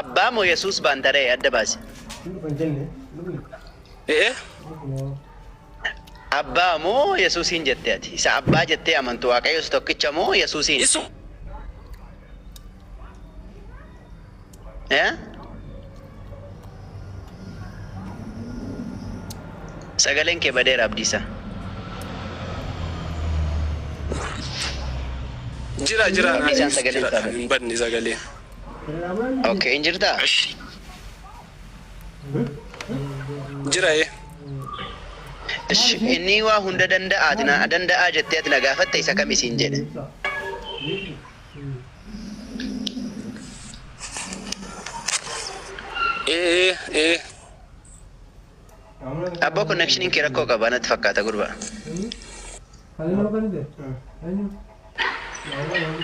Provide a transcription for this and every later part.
Abbaa moo Yesuus baanta ree adda baasi. Abbaa moo Yesuusiin jette ati? Isa abbaa jettee amantu Waaqayyo isa tokkicha moo Yesuusiin? Isu. Eh? Sagaleen kee badeera Abdiisa. Jira jira Abdiisaan naaniif sagaleen jira isaa kan bade. hin badne sagaleen. Okay, hin jirtaa? Ashi. Jira ee. Ish, Inni waa hunda danda'aati na danda'aa jettee ati na gaafatte isa kam isiin jedhe. Ee ee abboo connectionin kee rakkoo qaba natti fakkaata gurbaa.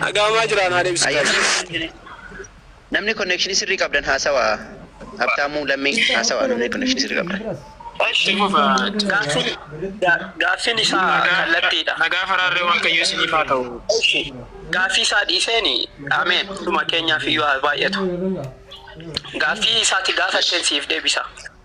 Dhagaamaa jiraan haa deebisu. Ayyaana. Namni connection sirrii qabdan haasawa. Habtaamuu Lammii haasawa namni connection sirrii qabdan. Itti fufa. Gaaffiin gaaffiin isaa kallattiidha. Nagaa faraarree waaqayyo isiniif haa ta'u. Ishi gaaffii isaa dhiiseeni ameen hunduma keenyaaf iyyuu haa baay'atu. Gaaffii isaati gaafatteen siif deebisa.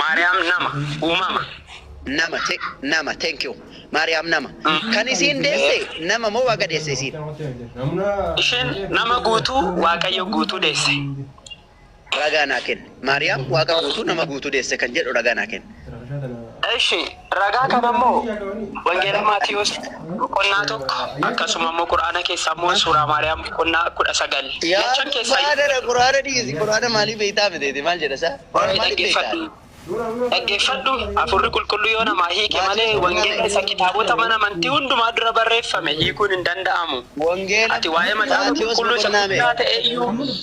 Maariyaam nama, uumama. nama te, nama thank you maariyaam nama kan isiin deesse nama moo waaqa deesse isiin Isheen nama guutuu Waaqayyo guutuu deesse. ragaa naa kenni maariyaam waaqa guutuu nama guutuu deesse kan jedhu ragaa naa kenni Ishi Ragaa kana immoo Wangeela Maatiwoos boqonnaa tokko akkasuma immoo Qur'aana keessaa immoo Suuraa Maariyaam boqonnaa kudha sagal lachan keessaa. Yaa gubbaa kana Qur'aana dhiisi Qur'aana maalii beektaa ati deete maal jedha isaa? Qur'aana maalii beektaa? Dhaggeeffadhu Hafuurri Qulqulluu yoo namaa hiike malee Wangeela isa kitaabota mana amantii hundumaa dura barreeffame hiikuun hin danda'amu. Ati waa'ee Macaafa Qulqulluu isa guddaa ta'e iyyuu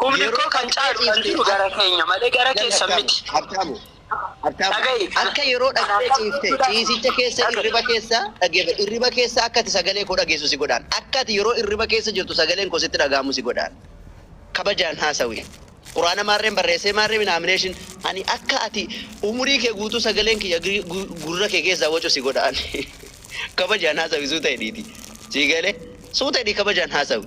Humni Yeroo koo kan caalu kan ciifte- jiru gara keenya malee gara Yaa keessan Habtaamu, miti. Habtaamu, Habtaamu, Dhaga'i. akka yeroo dhaqxee ciifte ciisicha keessa Dhaga'i. irriba keessa dhageef irriba keessa akka ati sagalee koo dhageessu si godhaan akka ati yeroo irriba keessa jirtu sagaleen koo sitti dhaga'amu si godhaan kabajaan haasawi quraana maarreen barreessee maarree minaamineeshin ani akka ati umurii kee guutuu sagaleen kiyya gri- gu- gurra kee keessaa wacu si godhaan kabajaan haasawi suuta hidhiiti sii galee suuta hidhii kabajaan haasawi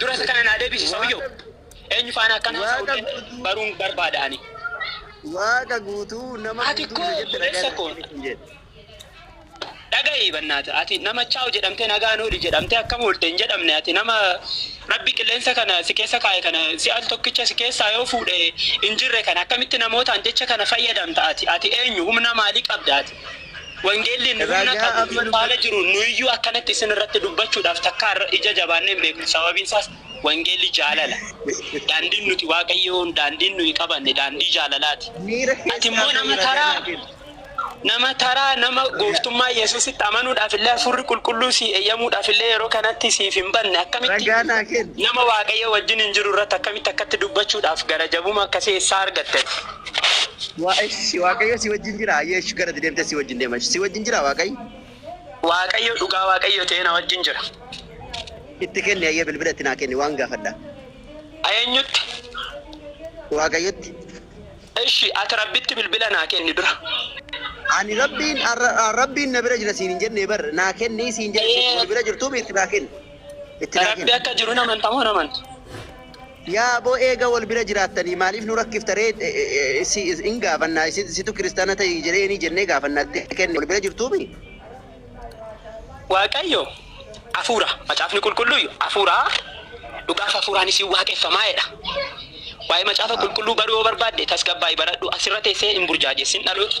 Dura isa kana naa deebisi sawiyyoo. Eenyu faana akkan haasa'u illee baruun barbaada ani. Waaqa guutuu nama Ati guutuu koo jette obboleessa dhagaa koo. kun jedhe. Dhaga'i bannaata ati nama chaaw jedhamtee nagaan ooli jedhamtee akkam oolte hin jedhamne ati nama rabbi qilleensa kana si keessa kaa'e kana si al tokkicha si keessaa yoo fuudhe hin jirre kana akkamitti namootaan jecha kana fayyadamta ati ati eenyu humna maalii qabda ati Wangeelli inni humna Ragaa qabu amma nu nutti- faana jiru nuyiyyuu akkanatti isin irratti dubbachuudhaaf takkaa irra- ija jabaannee hin beeknu. Sababiin isaas wangeelli jaalala. Daandiin nuti Waaqayyoon daandiin nuyi qabanne daandii jaalalaati. Miira Ati keessaa immoo nama ta'e taraa ragaa kenna. nama taraa nama gooftummaa Yesuusitti amanuudhaaf illee hafuurri qulqulluu si eeyyamuudhaaf illee yeroo kanatti siif hin banne akkamitti Ragaa naa kenna. nama Waaqayyo wajjin hin jiru irratti akkamitti akkatti dubbachuudhaaf gara jabuma akkasii eessaa argatte? Waa- Eshi waaqayyo si wajjin jira ayyee eshi gara deemtee si wajjin deema eshi si wajjin jira waaqayyo Waaqayyo dhugaa Waaqayyo ta'ee na wajjin jira. itti kenni ayyee bilbila itti naa kenni waan gaafadha Eenyutti? waaqayyotti Eshi ati rabbitti bilbila naa kenni dura. ani rabbiin arra- ah, rabbiin na bira jira siin hin jennee bar naa kenni siin jedhe Ee. wal bira jirtuu itti naa kenni itti naa Rabbi kenni akka jiru namantamoo namanta? Yaa aboo eega wal bira jiraattanii maaliif nu rakkifta ree si in gaafannaa situ kiristaana ta'i jedheeni jennee gaafanna itti kenne wal bira jirtuu mii. Waaqayyo Hafuura, Macaafni Qulqulluuyyu Hafuura, dhugaaf Hafuuraanis in waaqeffama jedha. Waa'ee Macaafa Qulqulluu baruu yoo barbaadde tasgabbaa'i baradhu, asirra teessee hin burjaajessin dhaloota.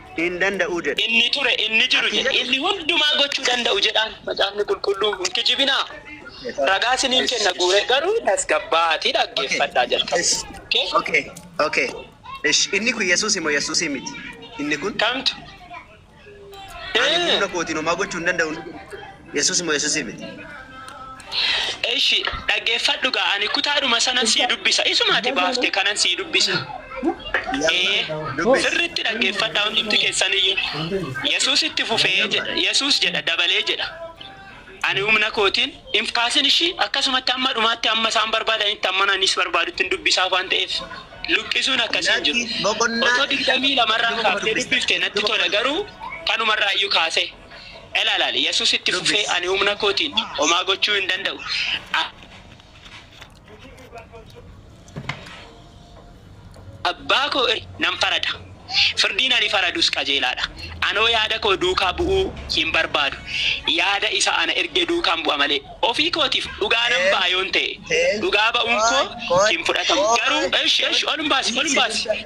hin danda'u jedhe. Inni ture, inni jiru Ati jedhe, jedhi. inni hundumaa gochuu danda'u jedhaan. Macaafni Qulqulluun hin kijibinaa. Ragaa isiniin Esh, kenna esh. guuree garuu tasgabbaa'aatii Okay. dhaggeeffadhaa jalqaba. Esh. Okay? Okay. Okay. Esh. Inni kun Yesuusi moo Yesuusii miti? Inni kun Kamtu? ani Eh. humna kootiin homaa gochuu hin danda'u. Yesuus moo Yesuusiin miti? Eshi dhaggeeffadhu gaa ani kutaadhuma sanan sii dubbisa isuma ati baafte kanan sii dubbisa ee sirritti dhaggeeffadha hundumti keessaniyyu yesuus itti fufee jedha yesuus jedha dabalee jedha ani humna kootiin hin kaasin ishii akkasumatti amma dhumaatti amma isaan barbaadanitti amma nanis barbaadutti hin dubbisaaf waan ta'eef luqqisuun akkasii hin jiru otoo digdamii lamarraa kaaftee dubbifte natti tola garuu kanumarraa iyyuu kaasee Ilaalaal, Yesuus itti fufee, Ani humna kootiin homaa gochuu hin danda'u. A- Abbaa koo irra nan farada. Firdiin ani faradus qajeelaadha. Anoo yaada koo duukaa bu'uu hin barbaadu. Yaada isa ana erge duukaan bu'a malee. Ofii kootiif dhugaa nan ba'a yoon ta'e, dhugaa ba'uun koo hin fudhatamu. Garuu, esh, esh, ol hin baasi, ol hin baasi.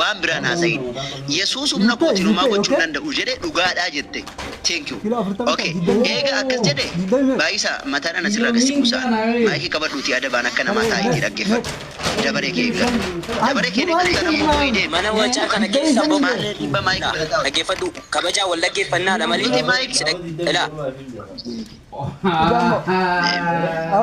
Waan biraa hin haasa'iin. Yesuus humna kootiin homaa gochuu hin danda'u jedhe dhugaadhaa jette. Thank you. Ok eega akkas jedhe Baayisaa mataan ana sirraa gad si buusaa. Maayikii qabadhuutii adabaan akka namaa taa'iitii dhaggeeffadhu. Dabaree kee eeggadhu. Dabaree keen eeggattaan ammoo boo'ii deemi. Mana wacaa kana keessa boba'u Maarree dhiibbaa maayikii dha. Dhaggeeffadhu. Kabajaan wal dhaggeeffannaadha malee si dhag. Ilaa.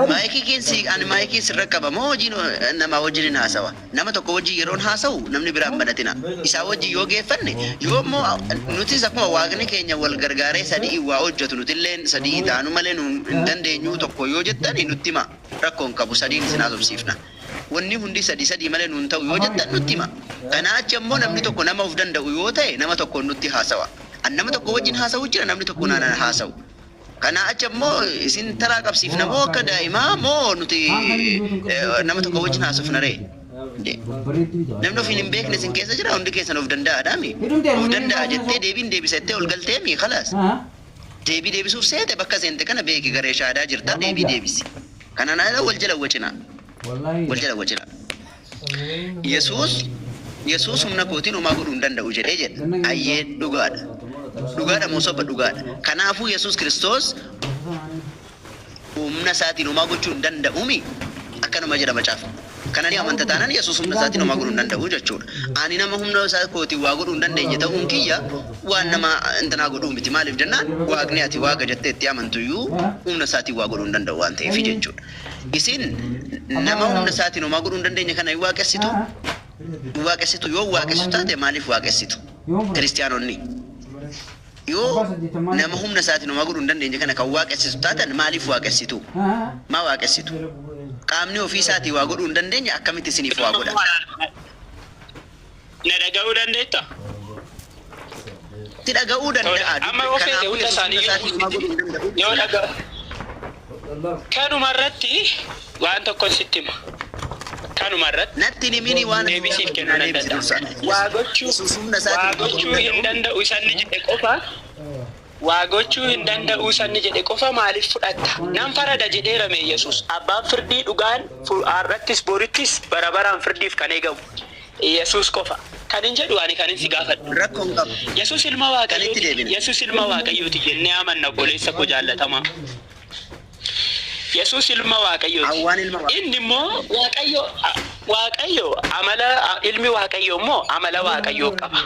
Maayikii keen si ani maayikii sirra qaba moo hojiin namaa wajjinin haasawa? Nama tokko wajjin yeroon haasawu namni biraa hin banatina. Isaa wajjin yoo geeffanne yoo immoo nutis akkuma Waaqni keenya wal gargaaree sadi'iin waa hojjatu nutilleen sadi'ii taanu malee nu hin dandeenyuu tokko yoo jettani nutti himaa rakkoo hin qabu sadiin isin haasofsiifna. Wanni hundi sadii sadii malee nu hin ta'u yoo jettan nutti himaa. Kanaa achi ammoo namni tokko nama of danda'u yoo ta'e nama tokkoon nutti haasawa. An nama tokko wajjin haasawu jira namni tokko na haasawu. Kanaa achi ammoo isin taraa qabsiifna moo akka daa'imaa moo nuti nama tokko wajjin haasofna ree? Dee. Namni ofiin hin beekne isin keessa jira hundi keessan of danda'aadhaami. Of danda'a jettee deebiin deebisa jettee ol galteemi kalaas. Deebii deebisuuf seete bakka seente kana beeki garee shaadaa jirta deebii deebisi. Kanaan ala wal jala wacinaa. Wal jala wacinaa. Yesuus, Yesuus humna kootiin homaa godhuu hin danda'u jedhee jedha. Ayyee, dhugaa dha. Dhugaa dha moo soba? Dhugaa dha. Kanaafuu Yesuus Kiristoos humna isaatiin homaa gochuu hin danda'u mii? Akkanuma jedha Macaafni. Kana ni amanta taanaan Yesuus humna isaatiin homaa godhuu hin danda'u jechuu dha. Ani nama humna isaa kootiin waa godhuu hin dandeenye ta'uun kiyya waan nama intinaa godhuu miti. Maaliif jennaan Waaqni ati Waaqa jettee itti amantu iyyuu humna isaatiin waa godhuu hin danda'u waan ta'eef jechuu dha. Isiin nama humna isaatiin homaa godhuu hin dandeenye kana hin waaqessitu. Hin waaqessitu yoo waaqessitu taate maaliif waaqessitu? Kiristiyaanonni yoo nama humna isaatiin homaa godhuu hin dandeenye kana kan waaqessitu taatan maaliif waaqessitu? Maa waaqessitu? Qaamni ofii isaatii waa godhuu hin dandeenye akkamitti isiniif waa godha? Na dhaga'uu dandeetta? Si dhaga'uu danda'a. Amma yoo feete hunda isaanii yoo dhaga'u. Kanuma irratti waan tokkon sitti hima. Kanuma irratti Natti himini waan deebii siif kennuu nan danda'a. Waa gochuu waa gochuu hin danda'u isa inni jedhe qofa Waa gochuu hin danda'uu isa inni jedhe qofa maaliif fudhatta? Nan farada jedheera mee Yesuus? Abbaan firdii dhugaan har'attis borittis bara baraan firdiif kan eegamu Yesuus qofa. Kanin jedhu ani kanin si gaafadhu. Rakko hin qabu. Yesuus ilma Waaqayyooti? Kan itti deebine. Yesuus ilma Waaqayyooti jennee amanna obboleessa koo jaallatamaa. Yesuus ilma Waaqayyooti. Hawwaan ilma Waaqayyooti. Inni immoo Waaqayyo Waaqayyo amala ilmi Waaqayyo immoo amala Waaqayyoo qaba.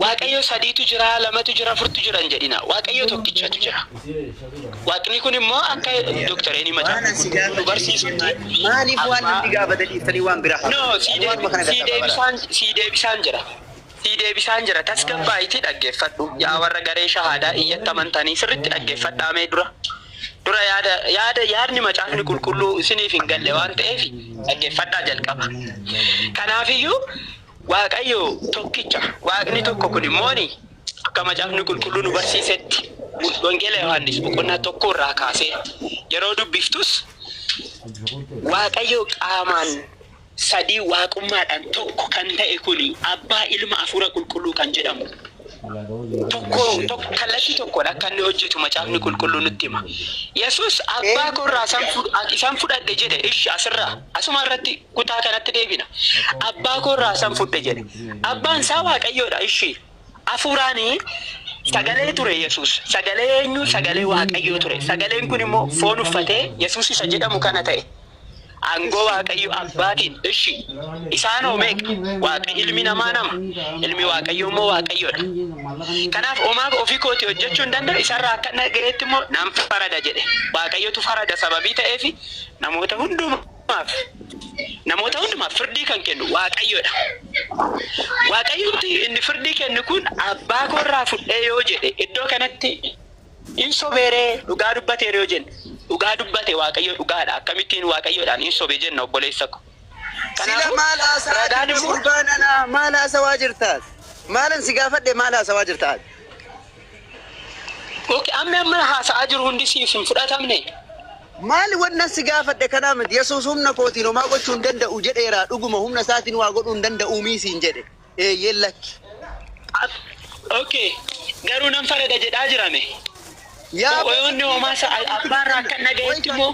Waaqayyo sadiitu jira, lamatu jira, afurtu jira hin jedhinaa. Waaqayyo tokkichatu jira. Waaqni kun immoo akka Dr. Eni Waan Macaafa asi Qulqulluu nu gaafate barsiisutti maali? Maaliif waan abbaa namni gaafate dhiiftanii waan biraa no haasoftu? sii Ani waanuma kana deebi- sii gaggaabbaa bara. deebisaan sii deebisaan jira sii deebisaan jira tasgabbaa'itii dhaggeeffadhu yaa warra garee shahaadaa iyyatti amantanii sirritti dhaggeeffadhaa mee dura dura yaada yaada yaadni macaafni qulqulluu isiniif hin galle waan ta'eef dhaggeeffadhaa jalqaba kanaafiyyuu Waaqayyo tokkicha, Waaqni tokko kun immoo ni. Akka Macaafni Qulqulluu nu barsiisetti, Wangeela Yohaannis boqonnaa 1 irraa kaasee yeroo dubbiftus, Waaqayyo qaamaan sadii Waaqummaadhaan tokko kan ta'e kun Abbaa, Ilma, Hafuura Qulqulluu kan jedhamu tokko, tokko, kallattii tokkoon akka inni hojjetu Macaafni Qulqulluu nutti hima. Yesuus Abbaa koo irraa isan fudhadhe jedhe, ishi asirraa, asuma irratti kutaa kanatti deebina. Abbaa koo irraa san fudhe jedhe. Abbaan isaa Waaqayyoodha. Ishii hafuuraanii sagalee ture Yesuus. Sagalee eenyu? Sagalee Waaqayyoo ture. Sagaleen kun immoo foon uffatee Yesuus isa jedhamu kana ta'e. Aangoo Waaqayyo abbaatiin ishii isaan hoo meeqa? Waaqa ilmi namaa nama. Ilmi Waaqayyoo immoo Waaqayyoodha. Kanaaf homaa ofii kootii hojjechuu hin danda'u isarraa akka dhaga'eetti immoo nan farada jedhe. Waaqayyotu farada sababii ta'eef namoota hundumaa. hundumaaf, namoota hundumaaf firdii kan kennu Waaqayyo dha. Waaqayyumti inni firdii kennu kun abbaa koo irraa fudhee yoo jedhe iddoo kanatti in sobeeree dhugaa dubbateera yoo jenne dhugaa dubbate Waaqayyo dhugaadha. Akkamittiin Waaqayyoodhaan in sobe jenna obboleessa ko. Sila Kanaafuu maal haasa'aa ragaan jirta immoo gurbaan anaa? Maal haasawaa jirtaas? Maalan si gaafadhe maal haasawaa jirtaas? Ok ammi amman haasa'aa jiru hundi siif hin fudhatamne? Maali wannan si gaafadhe kanaa miti Yesuus humna kootiin homaa gochuu hin danda'u jedheeraa dhuguma humna isaatiin waa godhuu hin danda'uumii siin jedhe eeyyeen lakki. Ab. Ok garuu nan farada jedhaa jirame? Yaa Oyoonni homaa sa'al abbaarraa akkan dhaga'etti immoo.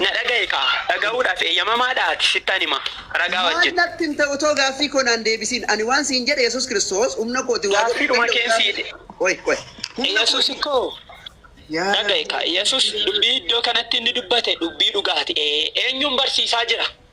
Na dhaga'i kaa! Dhaga'uudhaaf eeyyamamaa dha ati? Sittan hima, ragaa Maal wajjin. natti hin ta'u too gaaffii koo naan deebisiin. Ani waan siin jedhe Yesuus Kiristoos humna kooti waa godhuu hin Gaaffiidhuma danda'u keen sii. gaaffii Qoy qoy. Humna Yesuus kooti. koo! Yaa Dhaga'i Rabbii. kaa! Yesuus dubbii iddoo kanatti inni dubbate dubbii dhugaati. Ee, eenyuun barsiisaa jira?